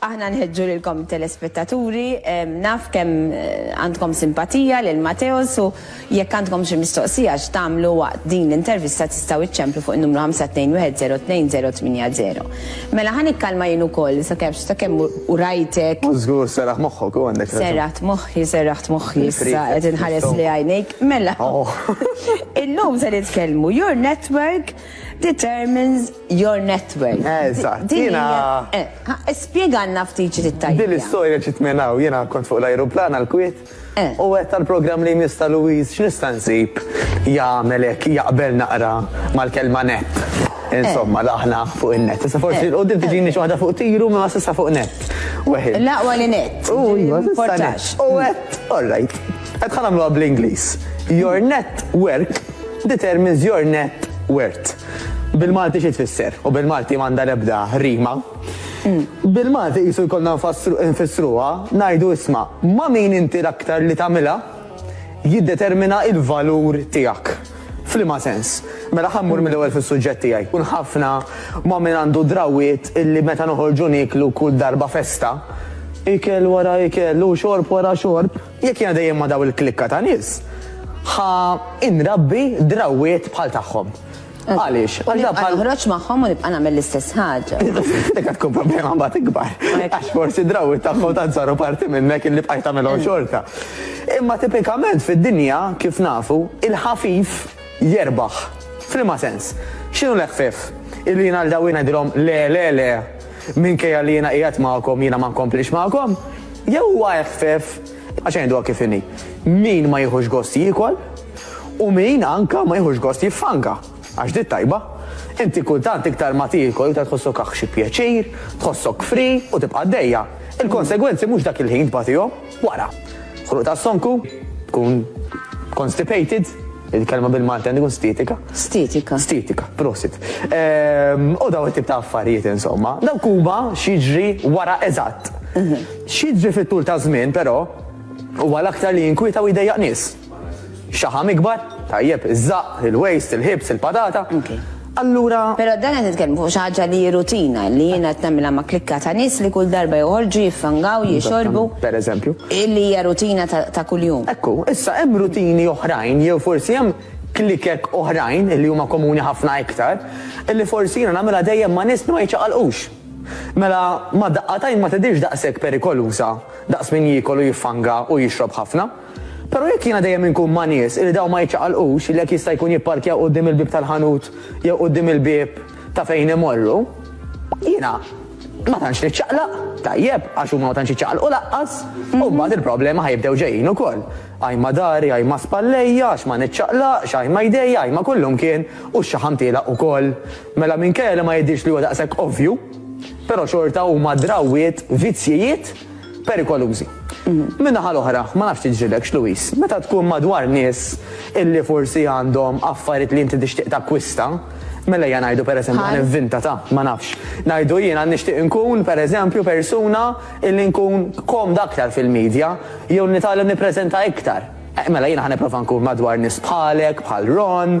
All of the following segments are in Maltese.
Aħna nħeġġu lilkom it-telespettaturi, naf kemm għandkom simpatija lil Matteos u jekk għandkom xi mistoqsija x'tagħmlu waqt din l-intervista tistgħu iċċemplu fuq in-numru 521-02-080. Mela ħa nikkalma jien ukoll sakemm ta' kemm u rajtek. Żgur serraħt moħħok u għandek raġun. Serraħt moħħi, serraħt moħħi issa qed inħares lejn għajnejk. Mela, illum se nitkellmu Your Network, determines your net worth. Eżatt, jiena. Spjegalna ftit xi trid tgħidilna. Din l-istorja ġiet minn hawn, jiena kont fuq l-ajruplan għall-Kwiet u għedt għall-programm li jmiss ta' Louise x'nista' nsib jagħmel hekk jaqbel naqra mal-kelma net. Insomma, daħna fuq in-net. Issa forsi 'l quddiem tiġini xi waħda fuq tiru imma s'issa fuq net. L-aqwa li net. U jiena. M'importax. U għedt, all right. Hekk ħa nagħmluha bl-Ingliż. Your net work determines your net worth. Bil-Malti xi tfisser? U bil-Malti m'għandha l-ebda rima. Bil-Malti qisu jkollna nfassru- nfissruha ngħidu isma' ma' min inti l-aktar li tagħmilha jiddetermina l-valur tiegħek. F'liema sens? Mela ħa mmur mill-ewwel fis-suġġett tiegħi. Kun ħafna ma' min għandu drawwiet illi meta noħorġu nieklu kull darba festa, ikel wara ikel u xorb wara xorb, Jekk jiena dejjem ma' dawn il-klikka ta' nies, ħa inrabbi drawwiet bħal tagħhom. Għaliex? U nibqa' noħroġ magħhom u nibqa' nagħmel l-istess ħaġa. Dik qed tkun problema mbagħad ikbar. Għax forsi drawwiet tagħhom tant saru parti minnek illi bqajt tagħmilhom xorta. Imma tipikament fid-dinja, kif nafu, il-ħafif, jerbaħ. F'liema sens? X'inhu l-eħfef? Illi jiena lil dawk ngħidilhom le, le, le, minkejja li jiena qiegħed magħkom jiena ma nkomplix magħkom? Jew huwa eħfef għax ngħiduha kif inhi, min ma jieħux gost jiekol u min anke ma jieħux gost jiffanka, għax di t-tajba. Inti kultant iktar ma tiekol iktar tħossok aħ xi pjaċir, tħossok free u tibqa' għaddejja. Il-konsegwenzi mhux dak il-ħin tbatihom. Wara, ħruq ta' sonku, tkun constipated, il-kelma bil-Malti għandi kun stitika. Stitika. Stitika, prosit. Ehm, u daw it-tip ta' affarijiet insomma. Daw kuba xieġri wara eżatt. Mhm. Xieġri fit-tul ta' żmien però, u għal aktar li jinkwita u jdejjaq nies. Xaħam ikbar, tajjeb, iż-żaqq, il-waste, il-ħibs, il-patata. Allura. Però dan qed nitkellmu fuq xi ħaġa li hi rutina li jien qed nagħmilha ma' klikka ta' nies li kull darba joħorġu jiffangaw, jixorbu. Pereżempju. Li hija rutina ta' kuljum. Ekku, issa hemm rutini oħrajn jew forsi hemm klikek oħrajn li huma komuni ħafna iktar li forsi jiena nagħmilha dejjem ma' nies li ma jiċċaqalqux. Mela ma' daqqatajn ma tidhirx daqshekk perikoluża daqs min jiekol u jiffanga u jixrob ħafna. Però jekk jiena dejjem inkun ma' nies li dawn ma jiċċaqalqux li hekk jista' jkun jipparkjaw quddiem il-bieb tal-ħanut jew quddiem il-bieb ta' fejn imorru, jiena ma tantx niċċaqlaq, tajjeb, għax huma ma tantx jiċċaqalqu lanqas, u mbagħad il-problemi ħa jibdew ġejjin ukoll. Ajma dari, ajma spallejja, għax ma niċċaqlaqx, ajma jdejja, ajma kullumkien, u x-xaħam tielaq ukoll. Mela minkejja li ma jidhirx li huwa daqshekk ovvju, però xorta huma drawwiet, vizzjijiet perikolużi. Min-naħa l-oħra, ma nafx tiġrilekx, Louise, meta tkun madwar nies illi forsi għandhom affarijiet li inti tixtieq takkwista, mela ejja ngħidu pereżempju ħa nivvinta ta' ma nafx. Ngħidu jiena nixtieq inkun pereżempju persuna illi nkun komda aktar fil-media jew nitgħallem nippreżenta iktar. Mela jiena ħa nipprova nkun madwar nies bħalek, bħal Ron,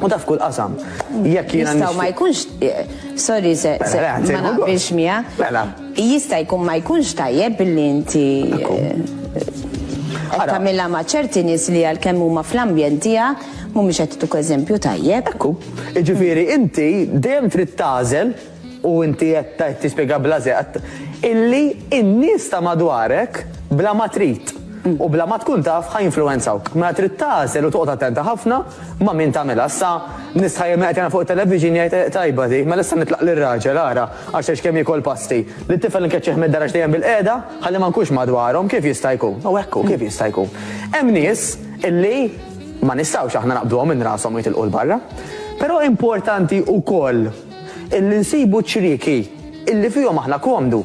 U daf kull qasam. Jekk jiena Jistgħu ma jkunx eh, sorry se mela, ma naqbilx miegħek. Mela. Jista' jkun ma jkunx tajjeb billi inti eh, tagħmilha ma' ċerti nies li għalkemm huma fl-ambjent tiegħek mhumiex qed eżempju tajjeb. Ekku. Jiġifieri inti dejjem trid tażel U inti qed tispjega bla żeqq illi n-nies ta' madwarek bla ma trid u bla ma tkun taf ħa jinfluwenzawk. Mela trid tagħżel u toqgħod attenta ħafna ma' min tagħmilha. Issa nies tħajjar min qed jara fuq it-television jgħid tajba di, mela issa nitlaq lir-raġel ara għax għex kemm jiekol pasti. Lit-tifel nkeċċih mid-dar għax dejjem bilqiegħda ħalli ma nkunx madwarhom, kif jista' jkun? U hekk hu, kif jista' jkun? Hemm nies illi ma nistgħux aħna naqbduhom minn rashom u jitilqu 'l barra. Però importanti wkoll. Illi nsibu ċ-ċrieki illi fihom aħna komdu,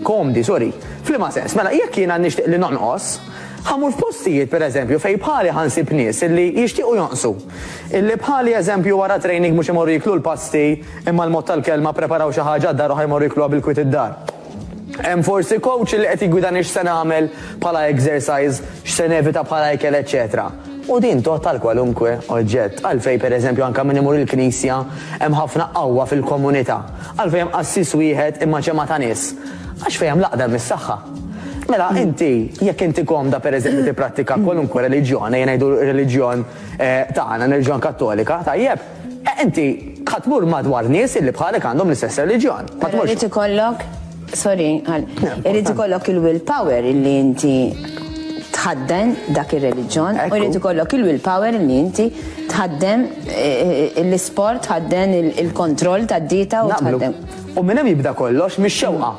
komdi, sorry. F'liema sens? Mela, jekk jiena nixtieq li nonqos, ħa mmur f'postijiet, per eżempju, fejn bħali ħa nsib nies illi jixtiequ jonqsu. Illi bħali, eżempju, wara training mhux imorru jieklu l-pasti, imma l-mod tal-kelma, ppreparaw xi ħaġa għad-dar u ħa jmorru jiekluha bil-kwiet id-dar. Hemm forsi coach li qed jiggwidani x'se nagħmel bħala exercise, x'se nevita bħala ikel eċċetera. U din tgħodd għal kwalunkwe oġġett. Għalfejn pereżempju anke min imur il-knisja hemm ħafna qawwa fil-komunità? Għalfejn hemm qassis wieħed imma ġemgħa ta' nies? Għax fejn hemm l-għaqda hemm is-saħħa. Mela inti jekk inti komda pereżempju tipprattika kwalunkwe reliġjon, ejja ngħidu r-reliġjon tagħna, ir-reliġjon Kattolika, tajjeb? Eh inti ħa tmur madwar nies illi bħalek għandhom l-istess reliġjon. Ħa tmur. Irid ikollok, sorry, irid ikollok il-will power illi inti tħadden dak ir-reliġjon u jrid ikollok il-will power li inti tħaddem eh, eh, l-isport, tħadden il-kontroll tad-dieta u tħaddem. U minn hemm jibda kollox mix-xewqa.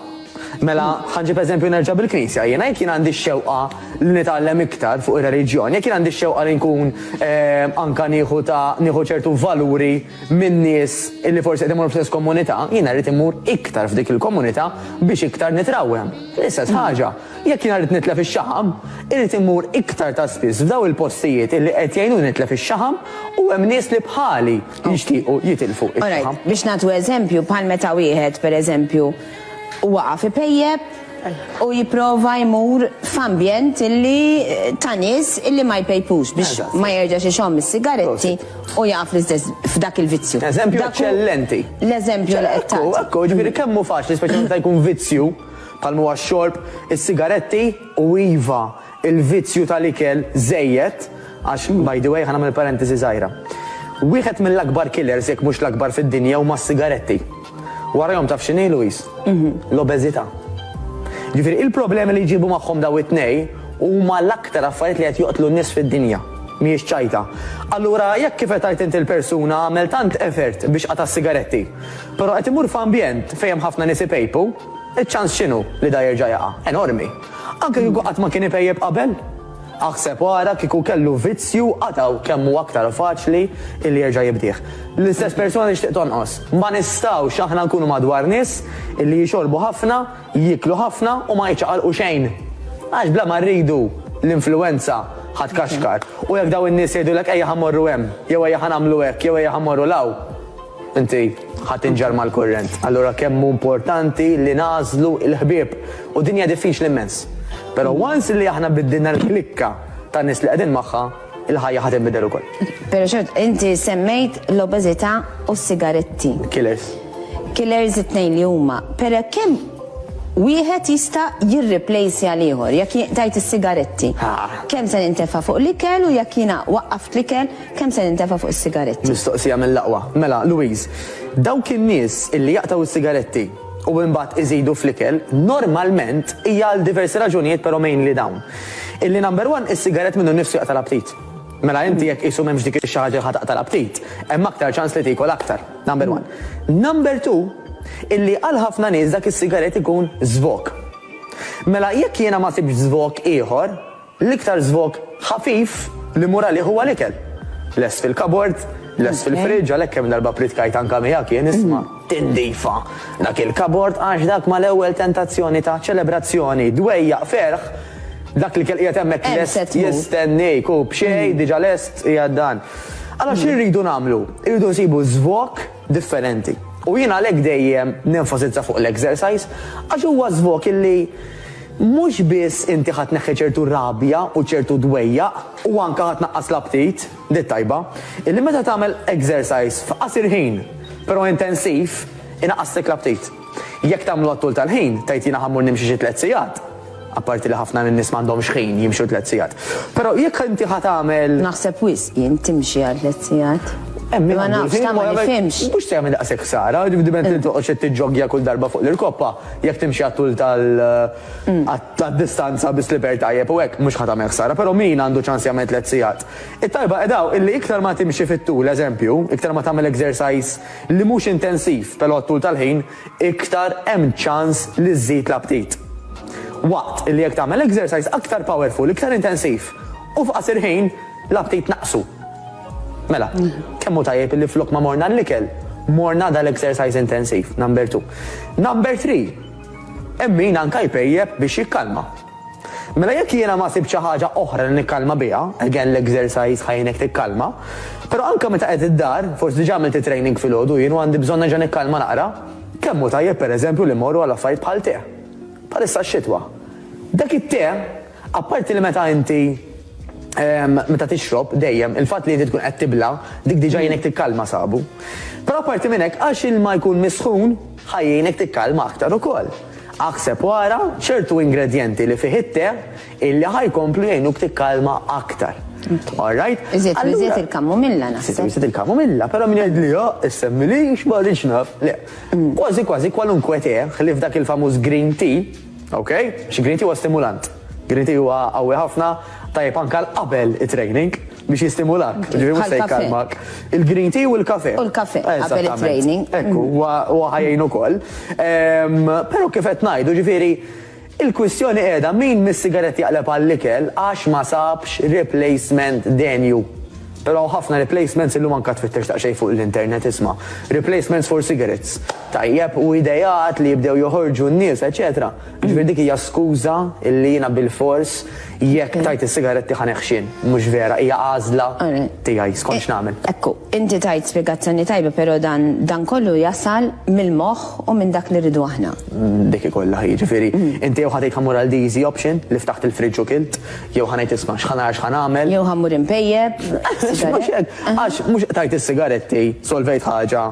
Mela, ħanġib eżempju nerġa' bil-Knisja. Jiena jekk jien għandi x-xewqa li nitgħallem iktar fuq ir-reliġjon, jekk jien għandi x-xewqa li nkun ehm, anka nieħu ta' nieħu ċertu valuri minn nies li forsi qed imur fl-istess komunità, jiena rrid imur iktar f'dik il-komunità biex iktar nitrawhem. L-istess mm. ħaġa, jekk jiena rrid nitlef ix-xaħam, irrid imur iktar ta' spiss f'daw il-postijiet li qed jgħinu nitlef ix-xaħam u hemm nies li bħali jixtiequ jitilfu ix-xaħam. Biex nagħtu eżempju bħal meta wieħed pereżempju u waqaf ipejjep u jipprova jmur f'ambjent illi ta' nies illi ma jpejpux biex ma jerġax ixomm is-sigaretti u jaqa' fl-istess f'dak il-vizzju. Eżempju Dak hu eċċellenti. L-eżempju li qed Ekku, tagħti. ekku, ġifieri kemm hu faċli, speċjalment meta jkun vizzju, bħalma huwa x-xorb, is-sigaretti, u iva, Il-vizzju tal-ikel żejjed, għax, by the way, ħa nagħmel parentesi żgħira, wieħed mill-akbar killers jekk mhux l-akbar fid-dinja huma s-sigaretti. Warajhom taf x'inhi, Louise? L-obeżità. Jiġifieri il-problemi li jġibu magħhom dawn it-tnejn huma l-aktar affarijiet li qed joqtlu n-nies fid-dinja. Mhijiex ċajta. Allura jekk kif qed tgħid inti l-persuna għamel tant effort biex qata' s-sigaretti, però qed imur f'ambjent fejn hemm ħafna nies ipejpu, iċ-ċans x'inhu li dan jerġa' jaqa'? Enormi. Anke kieku qatt ma kien ipejjep qabel? Aħseb ara kieku kellu vizzju qatgħu kemm hu aktar faċli illi jerġa' jibdih. L-istess persuna tixtieq tonqos. Ma nistgħux aħna nkunu madwar nies illi jixorbu ħafna, jieklu ħafna u ma jiċċaqalqu xejn. Għax bla ma rridu, l-influwenza ħa tkaxkar. U jekk dawn in-nies jgħidulek ejja ħa mmorru hemm, jew ejja ħa nagħmlu hekk, jew ejja ħa mmorru 'l hawn, Inti ħa tinġar mal-kurrent. Allura kemm hu importanti li nagħżlu l-ħbieb. U din hija diffiċli immens. Però once li aħna biddilna l-klikka tan-nies li qegħdin magħha, il-ħajja ħa tinbidel ukoll. Però xort, inti semmejt l-obeżità u s-sigaretti. Killers. Killers it-tnejn li huma. Però kemm wieħed jista' jirriplejsi għal ieħor jekk tajt is-sigaretti. Kemm se nintefa' fuq l-ikel u jekk jiena waqqaft l-ikel, Kemm se nintefa' fuq is-sigaretti? Mistoqsija mill-aqwa. Mela, Louise, dawk in-nies illi jaqtgħu s-sigaretti u imbagħad iżidu fl-ikel, normalment hija għal diversi raġunijiet però mainly dawn. Illi number one, is-sigarett minnu nnifsu jaqta' l-aptit. Mela inti jekk qisu m'hemmx dik ix-xi ħaġa li ħa taqta' l-aptit, hemm aktar ċans li tiekol aktar. Number one. Number two, illi għal ħafna nies dak is-sigarett ikun żvok. Mela jekk jiena ma sibtx żvok ieħor, L-iktar żvog ħafif li mmur għalih huwa l-ikel. Lest fil-kabord, lest fil-fridge, għalhekk kemm darba pridkajt anke miegħek jien, isma', tindifa dak il-kabord għax dak mal-ewwel tentazzjoni ta' ċelebrazzjoni, dwejjaq, ferħ, dak l-ikel qiegħed hemmhekk lest jistenniek u b'xejn diġà lest qiegħed dan. Allura xi rridu nagħmlu? Irridu nsibu żvog. differenti. U jien għalhekk dejjem nenfasizza fuq l-exercise għax huwa żvok illi mhux biss inti ħa tneħħi ċertu rabja u ċertu dwejjaq u anke ħa tnaqqas l-aptit, di t-tajba, illi meta tagħmel exercise f'qasir ħin, però intensiv, inaqqaslek l-aptit. Jekk tagħmlu għat-tul tal-ħin, tgħid jiena ħa mmur nimxi xi tliet sigħat, apparti li ħafna min-nies m'għandhomx ħin jimxu tliet sigħat. Però jekk inti ħa tagħmel. Naħseb wisq jien timxi għal tliet sigħat. Hemm min għandu l-ħin imma jagħmel. Ma nafx, tagħmel il-ħin. Mhux se jagħmel daqshekk ħsara, dipendiment li toqgħodx qed tiġġoggja kull darba fuq l-irkoppa, jekk timxi għat-tul tal, tad-distanza bi slipper tajjeb u hekk, mhux ħa tagħmel ħsara. Però min għandu ċans jagħmel tliet sigħat? It-talba qiegħda hawn illi iktar ma timxi fit-tul, eżempju, iktar ma tagħmel exercise, li mhux intensiv però t-tul tal-ħin iktar hemm ċans li żżid l-aptit. Waqt li jekk tagħmel exercise aktar powerful, iktar intensiv u f'qasir ħin l-aptit naqqsu. Mela, kemm hu tajjeb li flok ma morna għall-ikel, morna dal-exercise intensiv, number two. Number three, hemm min anke jpejjep biex jikkalma. Mela jekk jiena ma sibt xi ħaġa oħra li nikkalma biha, again l-exercise ħa jgħinek tikkalma, però anke meta qiegħed id-dar, forsi diġà għamilt it-training filgħodu jien u għandi bżonn nerġa' nikkalma naqra, kemm hu tajjeb pereżempju li mmorru għal affarijiet bħal te. Bħalissa x-xitwa. Dak it-te, apparti li meta inti ehm, meta tixrob dejjem, il-fatt li inti tkun qed tibla, dik diġà jgħinek tikkalma sabu. Però apparti minn hekk, għax ilma jkun misħun, Ħa jgħinek tikkalma aktar ukoll. Aħseb u ara ċertu ingredjenti li fih it-te illi ħa jkomplu jgħinuk tikkalma aktar. Alright? Iżjed u iżjed il-kamomilla naħseb. Iżjed u iżjed il-kamomilla, però min jgħidli ha, issemmilix ma rridx naf. Le. Kważi kważi kwalunkwe te, ħlief dak il-famuż green tea, Ok, x'Gritty huwa stimulant. Gritty huwa qawwi ħafna, tajjeb anke għal qabel it-training biex jistimulak, ġifieri mhux se jkallmak. Il-Gritty u l-kafè. U l-kafè qabel it-training. Ekku, huwa ħa jgħin ukoll. Però kif qed ngħidu, ġifieri il-kwistjoni qiegħda min mis-sigaretti jaqleb għall-ikel għax ma sabx replacement denju. Però hawn ħafna replacements illum anke tfittex daqsxejn fuq l-internet isma', replacements for cigarettes. tajjeb u ideat li jibdew joħorġu n-nies eċċetera, jiġifieri dik hija skuża li jiena bilfors jekk tajt is-sigaretti ħa neħxien. Mhux vera, hija għażla tiegħi skont x'nagħmel. Ekku, inti tajt spjegazzjoni tajba però dan dan kollu jasal mill-moħħ u minn dak li rridu aħna. Dik hi kollha hi, jiġifieri inti jew ħa tgħid ħa mmur għal the easy option li ftaħt il-fridge u kilt, jew ħa ngħid isma' x'ħa nara x'ħa nagħmel. Jew ħa mmur inpejjep. Mhux hekk, għax mhux tajt is-sigaretti, solvejt ħaġa.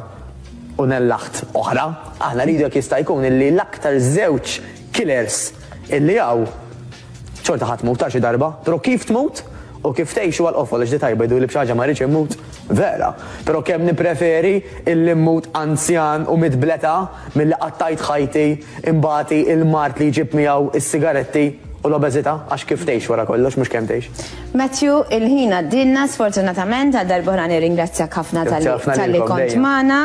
u nellaħt oħra, aħna rridu jekk jista' jkun illi l-aktar żewġ killers illi hawn xorta ħa tmut għal xi darba, però kif tmut u kif tgħix huwa l-qofol għax li tajba jidhurli b'xi ħaġa ma rridx immut vera, però kemm nippreferi illi mmut anzjan u midd bl-età milli qattajt ħajti Imbagħati l-mard li jġib miegħu s-sigaretti u l-obeżità, għax kif tgħix wara kollox, mhux kemm tgħix. Matthew, il-ħin għaddielna sfortunatament, għal darb'oħra nirringrazzjak ħafna talli kont magħna,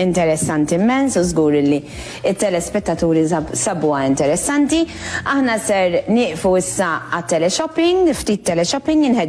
interessanti immens u żgur li t-telespettaturi sabuha interessanti. Aħna ser nieqfu issa għat-teleshopping, ftit teleshopping,